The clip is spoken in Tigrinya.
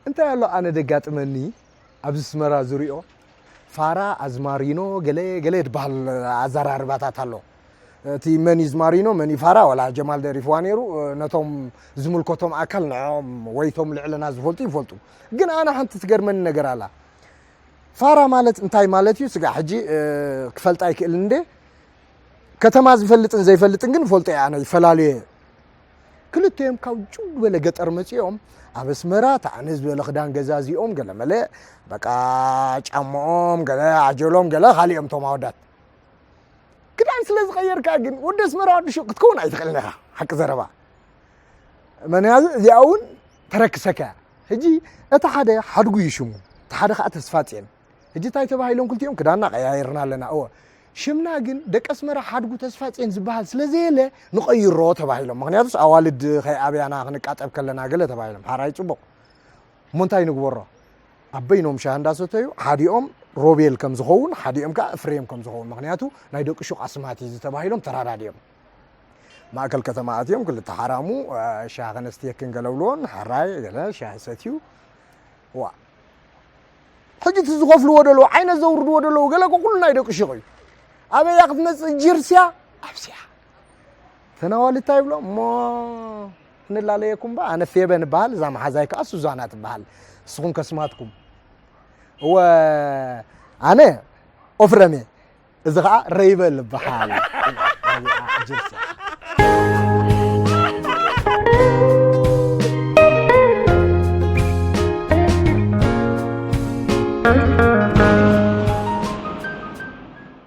እንታይ ኣሎ ኣነ ደጋጥመኒ ኣብዚ ስመራ ዝሪኦ ፋራ ኣዝማሪኖ ገለ ገለ ድበሃል ኣዘራርባታት ኣሎ እቲ መን ኢዝ ማሪኖ መን ኢዝ ፋራ ዋላ ጀማል ደሪፍዋ ነይሩ ነቶም ዝምልከቶም ኣካል ንዕኦም ወይቶም ልዕልና ዝፈልጡ ይፈልጡ ግን ኣነ ሓንቲ ትገርመኒ ነገር ኣላ ፋራ ማለት እንታይ ማለት እዩ ስጋ ሕጂ ክፈልጣ ይክእል እንደ ከተማ ዝፈልጥን ዘይፈልጥን ግን ፈልጦ እየ ኣነ ይፈላለዩ እየ ክልተዮም ካብ ጭው ዝበለ ገጠር መፂኦም ኣብ ኣስመራ ተዓነ ዝበለ ክዳን ገዛ እዚኦም ገለ መለ በቃ ጫምኦም ገለ ዓጀሎም ገለ ካልኦም እቶም ኣወዳት ክዳን ስለ ዝቐየርካ ግን ወዲ ኣስመራ ወዲ ሹቕ ክትከውን ኣይትኽእልን ኢኻ ሓቂ ዘረባ ምክንያቱ እዚኣ እውን ተረክሰካ እያ ሕጂ እቲ ሓደ ሓድጉ እዩ ሽሙ እቲ ሓደ ከዓ ተስፋፅን ሕጂ እንታይ ተባሂሎም ክልቲኦም ክዳና ቀያይርና ኣለና እወ ሽምና ግን ደቂ ኣስመራ ሓድጉ ተስፋፅን ዝበሃል ስለ ዘየለ ንቐይሮ ተባሂሎም ምክንያቱስ ኣዋልድ ከይኣብያና ክንቃጠብ ከለና ገለ ተባሂሎም ሓራይ ፅቡቕ እሞ እንታይ ንግበሮ ኣብ በይኖም ሻሂ እንዳሰተዩ ሓዲኦም ሮቤል ከም ዝኸውን ሓዲኦም ከዓ እፍሬም ከም ዝኸውን ምክንያቱ ናይ ደቂ ሹቅ ኣስማት እዩ ዝተባሂሎም ተራዳዲኦም ማእከል ከተማ ኣትዮም ክልተ ሓራሙ ሻሂ ከነስትየክን ገለብልዎን ሓራይ ገለ ሻሂ ሰትዩ ዋ ሕጂ እቲ ዝኸፍልዎ ደለዉ ዓይነት ዘውርድዎ ደለዉ ገለ ኩሉ ናይ ደቂ ሹቅ እዩ ኣበያ ክትመፅእ ጅርስያ ኣብስያ ተናዋሊ እንታይ ይብሎ እሞ ክንላለየኩም ባ ኣነ ፌበን እበሃል እዛ መሓዛይ ከዓ ሱዛና ትበሃል ንስኹም ከስማትኩም እወ ኣነ ኦፍረም እየ እዚ ከዓ ረይበል ይበሃል